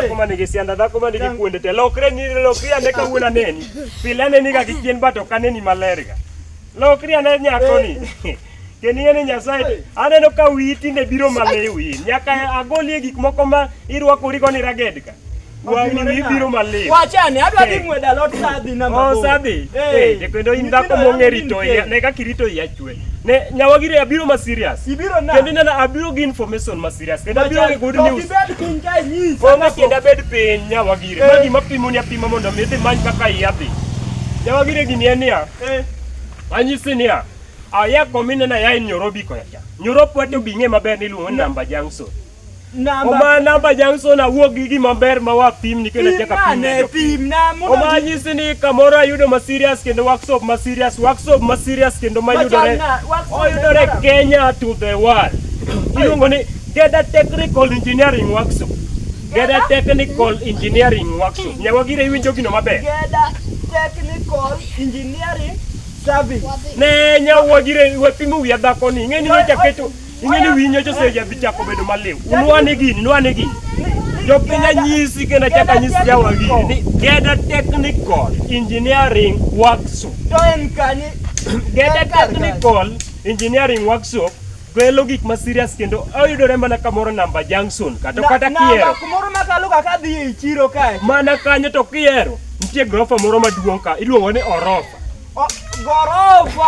kuma nigisianda dhako ma nigi kuonde te lokre ni lokri ane kawuono aneni pile aneni ga gi chien bat ok aneni malerga lokri ane nyakoni Keniye ni Nyasaye, aneno ka wiyi tinde biro maliwi. Nyaka agolie gik moko ma irwakori go ni ragedka. Wang'ni wiyi biro maliwi. Wachane, adwa dhi ng'weda lot sa adhi na mabor. Oh, sa adhi? Eh, eh kendo in dhako mong'e rito iya. Ne kaka irito iya chwe. Ne nyawagire abiro ma serious. Ibiro na. Kendo nana abiro gi information ma serious. Kendo abiro gi good news. Ibed piny ka nyis. Onge kendo abed piny nyawagire. Eh. Magi mapimo ni apima mondo mi dhi many kaka iya dhi. Nyawagire gini en niya. Eh. Anyisi niya. Aya komine na yae nyoro biko ya cha. Nyoro pwete obing'e maber ni luongo namba jangso. Namba Oma namba jangso na wuog gi gima ber ma wa pim ni kendo chaka pim. ne pim na muno. Oma nyisi ni kamoro ayudo ma serious kendo workshop ma serious, workshop ma serious kendo ma yudore. Oyudore Kenya to the world. Iluongo ni Geda Technical Engineering Workshop. Geda Technical Engineering Workshop. Nyawa gire iwinjo gino maber. Geda Technical Engineering Sabi. Ne nyawo gire we pimo wiya dhako ni. Ng'eni ni jaketo. Ng'eni winyo jo seja bichako bedo maliw. Unwa ni gini, unwa ni gini. Jo pinya nyisi kenda chaka nyisi jawa gini. Ni Geda Technical Engineering Workshop. Geda Technical Engineering Workshop kelo gik ma serious kendo oyudore mana kamoro namba junction kata kata kiero kumoro makalo kaka dhi e chiro kae mana kanyo to kiero nitie gorofa moro maduong' ka iluongo ni orofa gorofa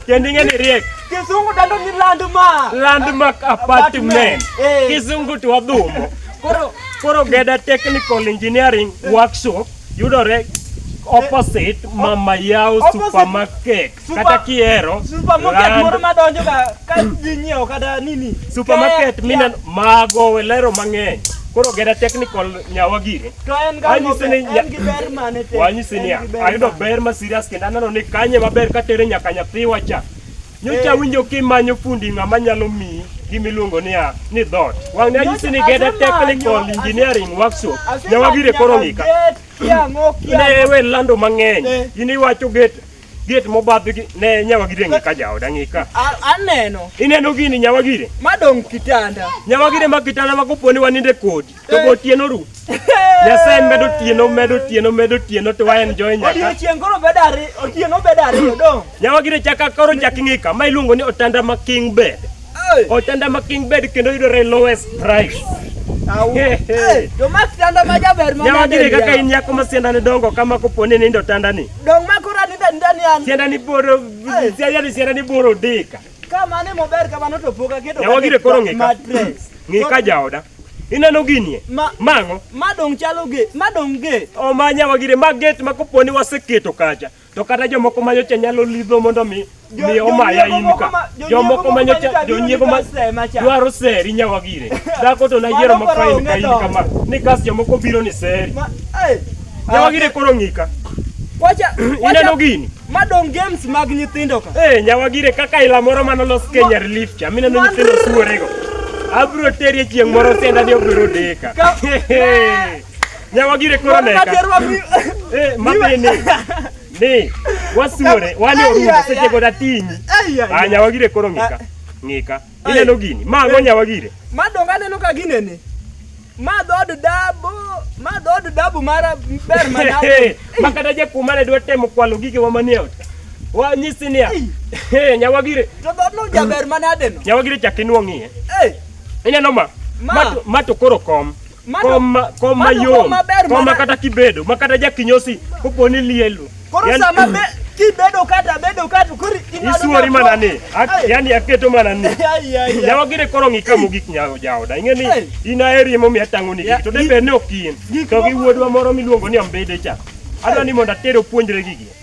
kendo ing'e ni riek kisungu dando ni landmark landmark apartment eh. kisungu to wadhumo koro koro geda technical engineering workshop yudore opposite mama yao supermarket kata kihero supermarket moro madonjo ga ka ji nyiewo kata nini supermarket mina mago welero mang'eny koro gera technical nyawa gire to en ga en gi ber mane te wanyisi ni ayudo ber ma serious kendo aneno ni kanye maber ka tere nyaka nyathiwa cha nyocha eh. winjo kimanyo fundi ng'ama nyalo miyi gimiluongo niya ni dhot wang' ne anyisi ni geda technical engineering workshop nyawa gire koro ng'ika ne we lando mang'eny eh. in iwacho gate Gate mobadh gi ne nyawa gire ng'i ka jaoda ng'i ka. A- aneno Ineno gini nyawa gire? madong' kitanda Nyawa gire ma kitanda ma koponi waninde kodi. To go tieno ru. Nyasaye medo tieno medo tieno medo tieno to wa enjoy nyaka. odiechieng' koro bedo ariyo otieno bedo ariyo dong' Nyawa gire chaka koro chak ng'i ka ma iluongo ni otanda ma king bed. Ochanda ma King Bed kendo yudore lowest price. Jomasianda ma jaber ma nade kaka in nyako ma sianda ne dongo kama kopo ni nindo tanda ni. Dong ma kora ni tanda ni an. Sianda ni boro sianda ni sianda ni boro dika. Kama ne mober kama no to poka kedo. Ya wagire koro ngika. Ngika jaoda. Ineno ginie? Ma, Mang'o? Ma dong chalo ge, ma dong ge. Omanya wagire ma get ma koponi waseketo kacha. to kata jomoko ma nyocha nyalo lidho mondo mi mi omaya in ka jomoko ma nyocha jonyiego ma dwaro seri nyawa gire dhako to nayiero ma fain ka in kama ni kas jomoko biro ni seri nyawa gire koro ng'ika wacha ineno gini madong games mag nyithindo ka eh nyawa gire kaka ila moro mano los Kenya relief cha mineno nyithindo suorego abro terie chieng' moro senda ni obiro deka Nyawagire koro leka. Eh, mapini. Ni, wasure, wani orumo, seche goda tinyi. Ah, nyawagire koro ng'ika. Ng'ika. Ineno gini, ma ang'o nyawagire? Ma donge aneno ka ginene. Ma dhood dabo, ma dhood dabo mara ber mana. Ma kata jakuma ne dwa temo kwalo gige wa manie ot. Wa nyisi niya. Eh, nyawagire. To dhood no jaber manade no. Nyawagire chak inuo ng'iye. Eh. Ineno ma? Ma to koro kom. koma koma yom koma kata kibedo ma kata jakinyosi kopo ni lielo koro sama be kibedo kata bedo kata kuri isuori mana ni yani aketo mana ni yawa gire koro ng'i kamo gik nyawo jaoda ing'e ni in aheri emomiyo atang'o ni gik to de bed ni ok in to gi wuodwa moro miluongo ni ambede cha adwa ni mondo atere opuonjre gigi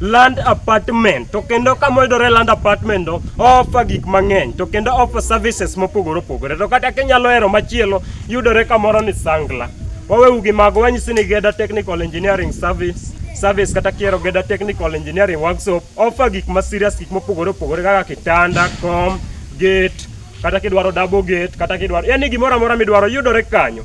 land apartment to kendo kama yudore land apartment no offer gik mang'eny to kendo offer services mopogore opogore to kata kinyalo hero machielo yudore kamoro ni Sangla wawewu gi mago wanyisi ni Geda Technical Engineering Service service kata kiero Geda Technical Engineering Workshop offer gik ma serious gik mopogore opogore kaka kitanda kom gate kata kidwaro double gate kata kidwaro yani gimoro amora midwaro yudore kanyo